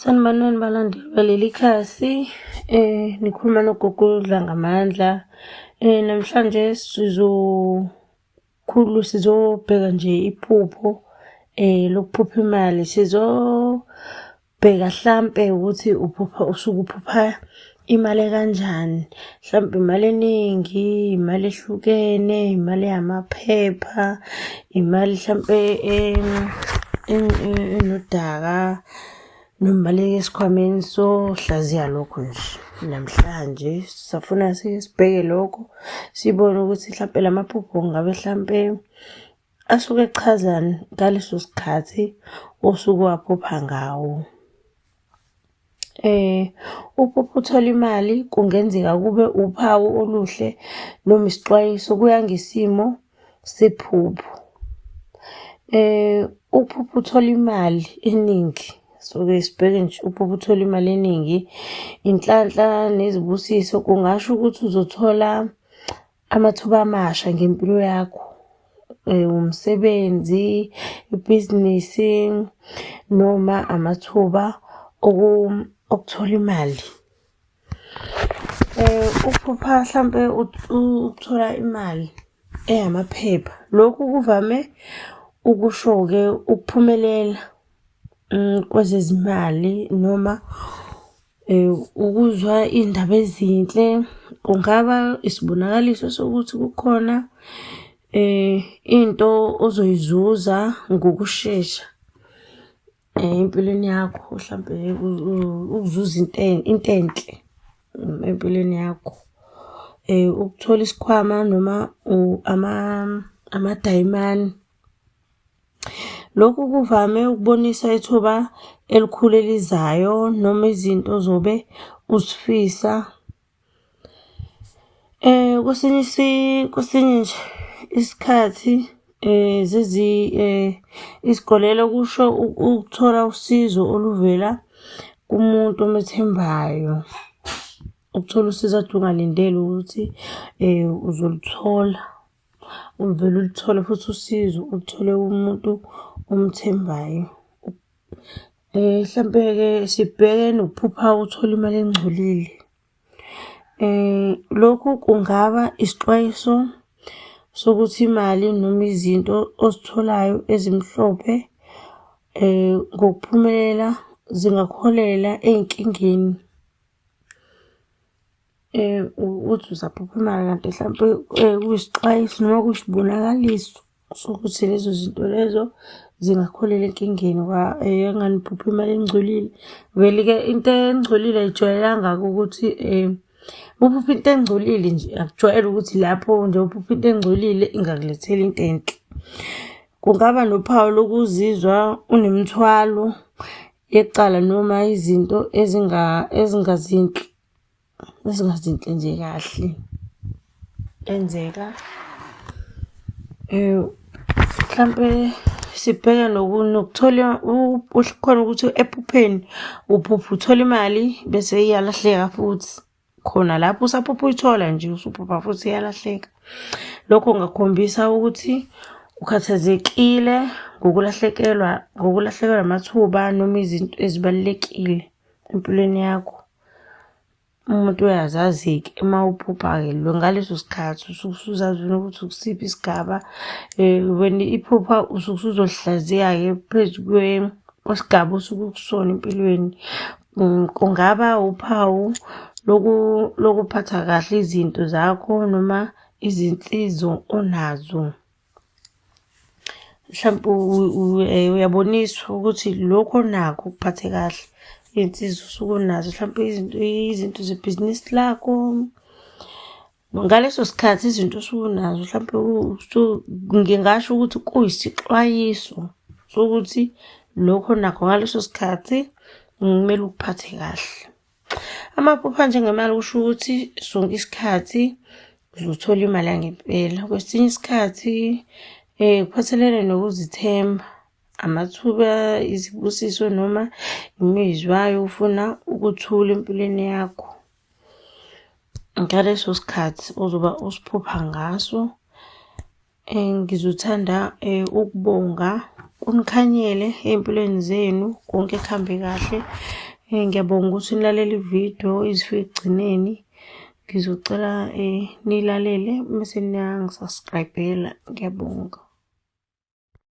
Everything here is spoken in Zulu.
Sanibonani balandeli baleli khasi eh nikhuluma nogogo Dlangamandla eh namhlanje sizokhulu sizobheka nje iphupho eh lokuphupha imali sizobheka hlampe ukuthi uphupha usukuphupha Imali kanjani? Mhlawumbe imali eningi, imali ehlukene, imali yamaphepha, imali mhlawumbe enodaka nomali esikhwameni sohlaziya lokho nje. Namhlanje sisafuna sibheke lokho, sibone ukuthi mhlawumbe la maphupho ngabe mhlawumbe asuke echazani ngaleso sikhathi osuke waphupha ngawo. Uma uthole imali kungenzeka kube uphawu oluhle noma isixwayiso, kuya ngesimo sephupho. Ukuphupha uthole imali eningi, suke sibheke nje ukuphupha uthole imali eningi, inhlanhla nezibusiso kungasho ukuthi uzothola amathuba amasha ngempilo yakho eh, umsebenzi ibhizinisi noma amathuba okuthola imali eh, ukuphupha hlampe ukuthola imali eyamaphepha lokhu kuvame ukusho-ke ukuphumelela mm, kwezezimali noma Ukuzwa iy'ndaba ezinhle kungaba isibonakaliso sokuthi kukhona into ozoyizuza ngokushesha empilweni yakho, hlampe ukuzuza into into enhle empilweni yakho. Ukuthola isikhwama noma amadayimane. Lokhu kuvame ukubonisa ithuba elikhulu elizayo noma izinto ozobe uzifisa. Kwesinye kwesinye nje isikhathi izikolelo kusho ukuthola usizo oluvela kumuntu omethembayo. Ukuthola usizo kade ungalindele ukuthi uzoluthola. Uluvele uluthole futhi usizo uluthole umuntu omthembayo. Eh, mhlampe-ke sibheke nokuphupha uthole imali engcolile. Eh, lokhu kungaba isixwayiso sokuthi imali noma izinto ozitholayo ezimhlophe eh, ngokuphumelela zingakuholela ey'nkingeni. um uthi uzaphupha imali kanti mhlawumpe um kuyisixwayiso noma kuyisibonakaliso sokuthi lezo zinto lezo zingakholela enkingeni yanganiphupha eh, imali engcolile vele-ke into engcolile ayijwayelanga-ke ukuthi um uphupha into engcolile nje akujwayele ukuthi lapho nje uphupha into engcolile ingakulethela into enhle kungaba nophawu lokuzizwa unemithwalo yecala noma izinto ezingazinhle ezingazinhle nje kahle enzeka um mhlampe sibheke nokuthola khona ukuthi ephupheni uphupha uthola imali bese iyalahleka futhi khona lapho usaphupha uyithola nje usuphupha futhi iyalahleka lokho kungakhombisa ukuthi ukhathazekile ngokulahlekelwa ngokulahlekelwa amathuba noma izinto ezibalulekile empilweni yakho umuntu uyazazi-ke uma uphupha-ke lo ngaleso sikhathi usuke usuzazi ukuthi ukusiphi isigaba um wena iphupha usuke usuzohlaziya-ke phezu kwesigaba osuke ukusona empilweni mm, kungaba uphawu lokuphatha kahle izinto zakho noma izinsizo onazo. Mhlampe eh, uyaboniswa ukuthi lokho nakho kuphathe kahle iy'nsiza usuke unazo mhlampe izinto izinto zebhizinisi lakho ngaleso sikhathi izinto osuke unazo mhlampe ngingasho ukuthi kuyisixwayiso sokuthi lokho nakho ngaleso sikhathi kumele ukuphathe kahle Amaphupha njengemali kusho ukuthi sonke isikhathi uzothola imali yangempela. Kwesinye isikhathi um kuphathelene nokuzithemba, amathuba, izibusiso noma imizwa yokufuna ukuthula empilweni yakho. Ngaleso sikhathi ozoba usiphupha ngaso. Eh, ngizothanda eh, ukubonga kunikhanyele ey'mpilweni zenu konke kuhambe kahle um ngiyabonga ukuthi nilalele ividiyo izifike ekugcineni ngizocela um nilalele mese niyangisaskrayibhela ngiyabonga